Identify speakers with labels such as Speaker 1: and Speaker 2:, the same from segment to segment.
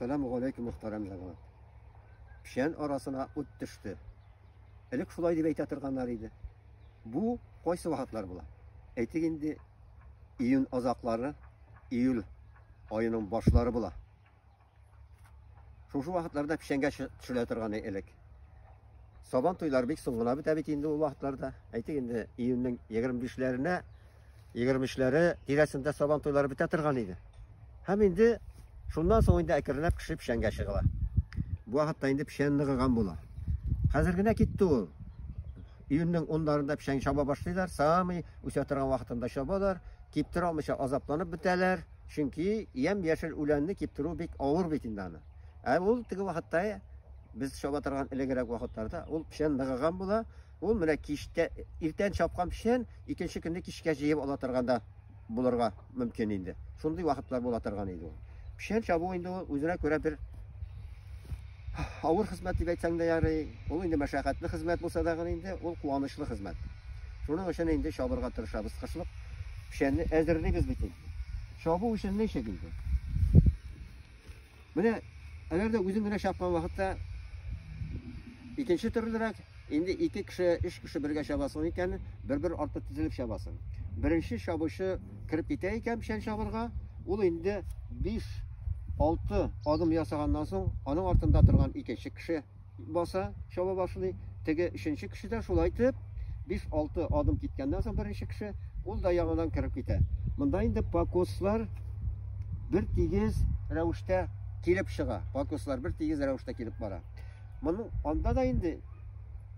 Speaker 1: Сәлам галәйкүм мөхтәрәм җәмәгать. Печән арасына ут төште. Элек шулай дип әйтә торганнар иде. Бу кайсы вакытлар була? Әйтик инде июнь азаклары, июль аеның башлары була. Шушы вакытларда печәнгә төшелә торган элек. Сабан туйлар бик соң гына бетә бит инде ул вакытларда. Әйтик инде июньнең 25-ләренә 23-ләре тирәсендә сабан туйлары бетә торган иде. Һәм инде шуннан соң инде әкренләп кеше печәнгә чыгыла. Бу вакытта инде печән ныгыган була. Хәзер генә китте ул. Июньнең 10-ларында печән чаба башлыйлар, самый үсә торган вакытында чабалар, киптер алмыйча азапланып бетәләр, чөнки ям яшел үләнне киптерү бик авыр бит инде аны. Ә ул теге вакытта без чаба торган элегрәк вакытларда ул печән ныгыган була, Ул менә кичтә, иртән чапкан печән икенче көнне кичкә җыеп ала торган да булырга мөмкин инде. Шундый вакытлар була торган иде ул. Печән чабу инде ул үзенә күрә бер авыр хезмәт дип әйтсәң дә ярый. Ул инде мәшәкатьле хезмәт булса да инде ул куанычлы хезмәт. Шуның өчен инде чабырга тырышабыз. Кышлык печәнне әзерлибез бит инде. Чабу өчен ничек инде? Менә әгәр дә үзең генә чапкан вакытта икенче төрлерәк, инде ике кеше, өч кеше бергә чабасың икән, бер-бер арты тезелеп чабасың. Беренче чабучы кереп китә икән печән чабырга, ул инде 5-6 адым ясаганнан соң, аның артында торган икенче кеше Баса, чаба башлый. Теге өченче кеше дә шулай итеп, 5-6 адым киткәннән соң беренче кеше, ул да яңадан кереп китә. Монда инде покослар бер тигез рәвештә килеп чыга. Покослар бер тигез рәвештә килеп бара. Моның анда да инде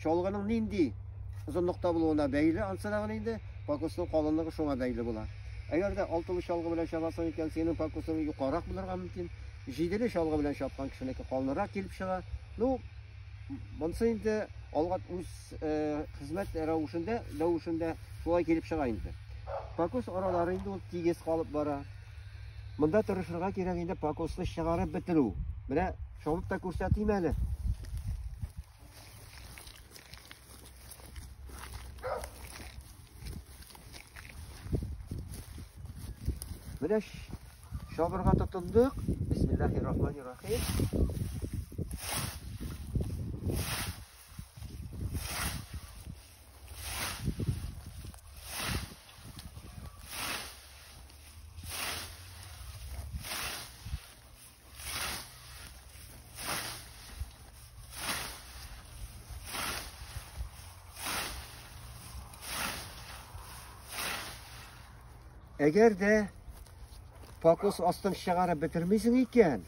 Speaker 1: чалгының нинди озынлыкта булуына бәйле, ансы да инде покосның калынлыгы шуңа бәйле була. Әгәр дә алтылы чалгы белән чабасың икән, синең покосың юкарак булырга мөмкин. Җиделе чалгы белән чапкан кешенеке калынрак килеп чыга. Ну, монсы инде алга үз э, хезмәт рәвешендә, рәвешендә шулай килеп чыга инде. Покос аралары инде ул тигез калып бара. Монда тырышырга кирәк инде покосны чыгарып бетерү. Менә чабып та күрсәтим әле. Менә чабырга тотындык. Бисмиллаһиррахманиррахим. Әгәр дә покос астын чыгарып бетермисең икән,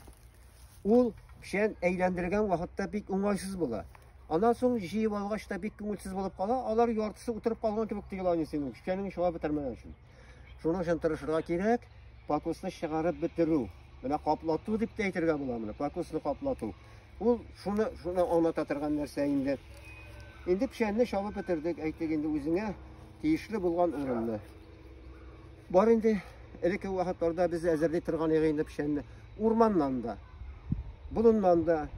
Speaker 1: ул печән әйләндергән вакытта бик уңайсыз була. Аннан соң җыеп алгач та бик күңелсез булып кала, алар яртысы утырып калган кебек тоела инде синең печәнеңне чыгарып бетермәгән өчен. Шуның өчен тырышырга кирәк, пакусны чыгарып бетерү. Менә каплату дип тә әйтергә була моны, пакусны каплату. Ул шуны шуны аңлата торган нәрсә инде. Инде печәнне чабып бетердек, әйтик инде үзеңә тиешле булган урынны. Бар инде элекке вакытларда без әзерли торган идек инде печәнне. Урманнан да, болыннан да,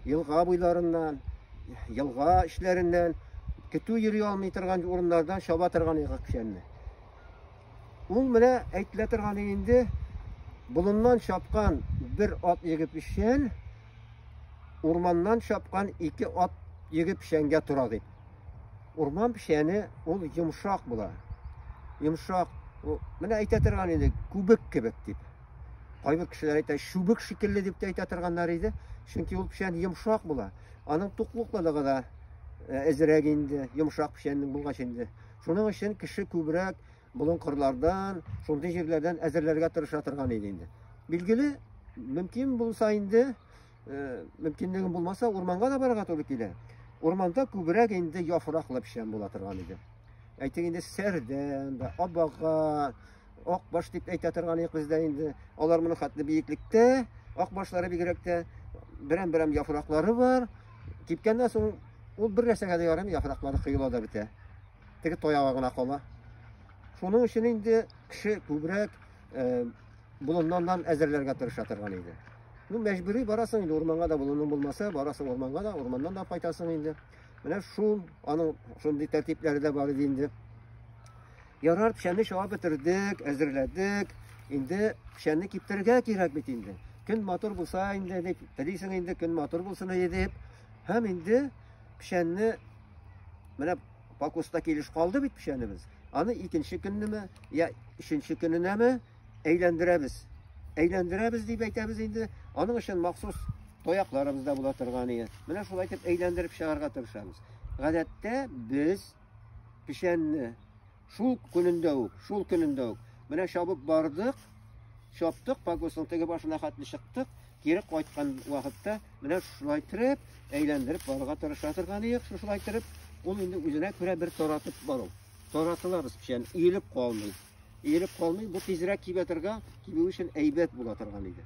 Speaker 1: елга буйларыннан, елга эчләреннән, көтү йөри алмый торган урыннардан чаба торган идек печәнне. Ул менә әйтелә торган инде болыннан чапкан бер ат егып печән, урманнан чапкан ике ат егып печәнгә тора дип. Урман печәне ул йомшак була. Йомшак, менә әйтә торган инде күбек кебек дип. Кайбер кешеләр әйтә, чүбек шикелле дип тә әйтә торганнар иде. Чөнки ул печән йомшак була. Аның туклыклылыгы да әзрәк инде, йомшак печәннең булгач инде. Шуның өчен кеше күбрәк болын кырлардан, шундый җирләрдән әзерләргә тырыша торган иде инде. Билгеле, мөмкин булса инде, э, мөмкинлегем булмаса, урманга да барырга туры килә. Урманда күбрәк инде яфраклы печән була торган иде. Әйтик инде, сәрдән, абага, Акбаш дип әйтә торган идек без дә инде. Алар моны хәтле биеклектә, акбашлары бигрәк тә берәм-берәм яфраклары бар. Кипкәннән соң ул бер нәрсәгә дә ярамый, яфраклары кыела да бетә. Теге таягы гына кала. Шуның өчен инде кеше күбрәк э, болыннан әзерләргә тырыша торган иде. Ну, мәҗбүри барасың инде урманга да болының булмаса, барасың урманга да, урманнан да кайтасың инде. Менә шул аның шундый тәртипләре дә бар иде инде. Ярар, печәнне чуа бетердек, әзерләдек. Инде печәнне киптерергә кирәк бит инде. Көн матур булса инде дип, телисең инде көн матур булсын иде дип. Һәм инде печәнне менә покуста килеш калды бит печәнебез. Аны икенче көннеме, я өченче көненәме әйләндерәбез. Әйләндерәбез дип әйтәбез инде. Аның өчен махсус тоякларыбыз да була торган иде. Менә шулай итеп әйләндереп чыгарга тырышабыз. Гадәттә без Печәнне шул көнендә үк, шул көнендә үк. Менә чабып бардык, чаптык, погостның теге башына хәтле чыктык, кире кайткан вакытта менә шулай итеп, әйләндереп барырга тырыша торган идек, шулай итеп, ул инде үзенә күрә бер таратып бару. Таратылабыз печән, иелеп калмый. Иелеп калмый, бу тизрәк кибә торган, кибү өчен әйбәт була торган иде.